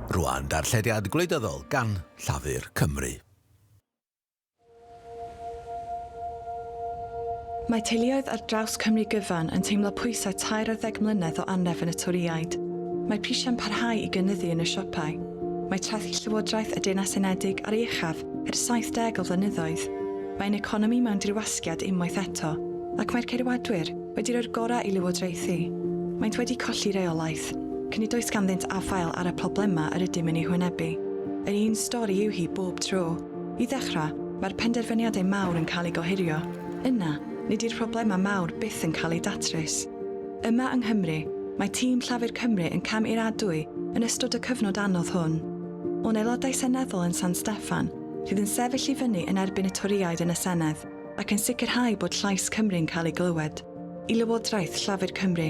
Rwan, darllediad gwleidyddol gan Llafur Cymru. Mae teuluoedd ar draws Cymru gyfan yn teimlo pwysau tair ar ddeg mlynedd o anref yn y Torïaid. Mae prisiau'n parhau i gynyddu yn y siopau. Mae trethu Llywodraeth y Deyrnas Unedig ar ei uchaf Er 70 o flynyddoedd, mae'n economi mewn dirwasgiad unwaith eto, ac mae'r Ceidwadwyr wedi rhoi'r gorau i lywodraethu. Maent wedi colli reolaeth, cyn nid oes ganddynt afael ar y problemau yr ydym yn eu hwynebu. Yr un stori yw hi bob tro. I ddechrau, mae'r penderfyniadau mawr yn cael eu gohirio. Yna, nid yw'r problemau mawr byth yn cael eu datrys. Yma yng Nghymru, mae tîm Llafur Cymru yn cam i'r adwy yn ystod y cyfnod anodd hwn. o'n aelodau seneddol yn San Steffan sydd yn sefyll i fyny yn erbyn y Torïaid yn y Senedd ac yn sicrhau bod llais Cymru'n cael ei glywed, i Lywodraeth Llafur Cymru,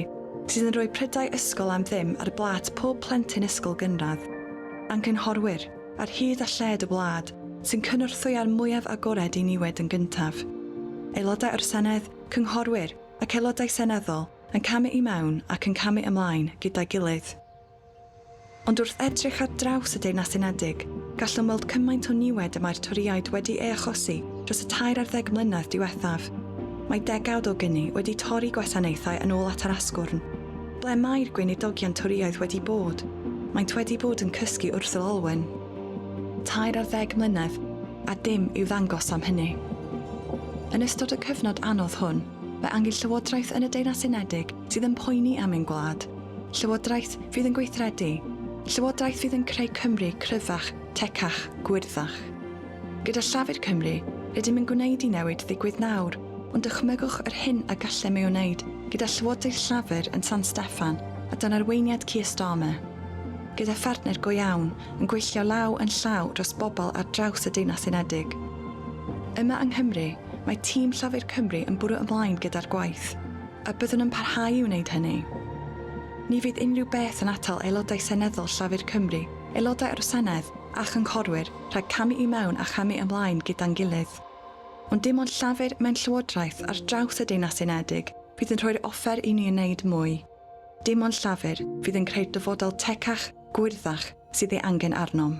sydd yn rhoi prydau ysgol am ddim ar blât pob plentyn ysgol gynradd, a'n cynghorwyr, ar hyd a lled y wlad, sy'n cynorthwy â'r mwyaf agored i niwed yn gyntaf. Aelodau o'r Senedd, cynghorwyr, ac aelodau seneddol yn camu i mewn ac yn camu ymlaen gyda'i gilydd. Ond wrth edrych ar draws y Deyrnas Unedig, gallwn weld cymaint o niwed y mae'r Torïaid wedi ei achosi dros y tair ar ddeg mlynedd diwethaf. Mae degawd o gyni wedi torri gwasanaethau yn ôl at yr asgwrn. Ble mae'r Gweinidogion Torïaidd wedi bod? Maent wedi bod yn cysgu Ursel Alwen. Tair ar ddeg mlynedd, a dim i'w ddangos am hynny. Yn ystod y cyfnod anodd hwn, fe angy Llywodraeth yn y Deyrnas Unedig sydd yn poeni am ein gwlad, Llywodraeth fydd yn gweithredu, Llywodraeth fydd yn creu Cymru cryfach, tecach, gwyrddach. Gyda Llafur Cymru, rydym yn gwneud i newid ddigwydd nawr, ond dychmygwch yr hyn a gallem ei wneud gyda Llywodraeth Llafur yn San Steffan a dan arweiniad Keir Starmer. Gyda phartner go iawn, yn gweithio law yn llaw dros bobl ar draws y Deyrnas Unedig. Yma yng Nghymru, mae tîm Llafur Cymru yn bwrw ymlaen gyda'r gwaith. A byddwn yn parhau i wneud hynny. Ni fydd unrhyw beth yn atal Aelodau Seneddol Llafur Cymru, Aelodau o'r Senedd, a Chynghorwyr rhag camu i mewn a chamu ymlaen gyda'n gilydd. Ond dim ond Llafur mewn Llywodraeth ar draws y Deyrnas Unedig fydd yn rhoi'r offer i ni wneud mwy. Dim ond Llafur fydd yn creu'r dyfodol tecach, gwyrddach, sydd ei angen arnom.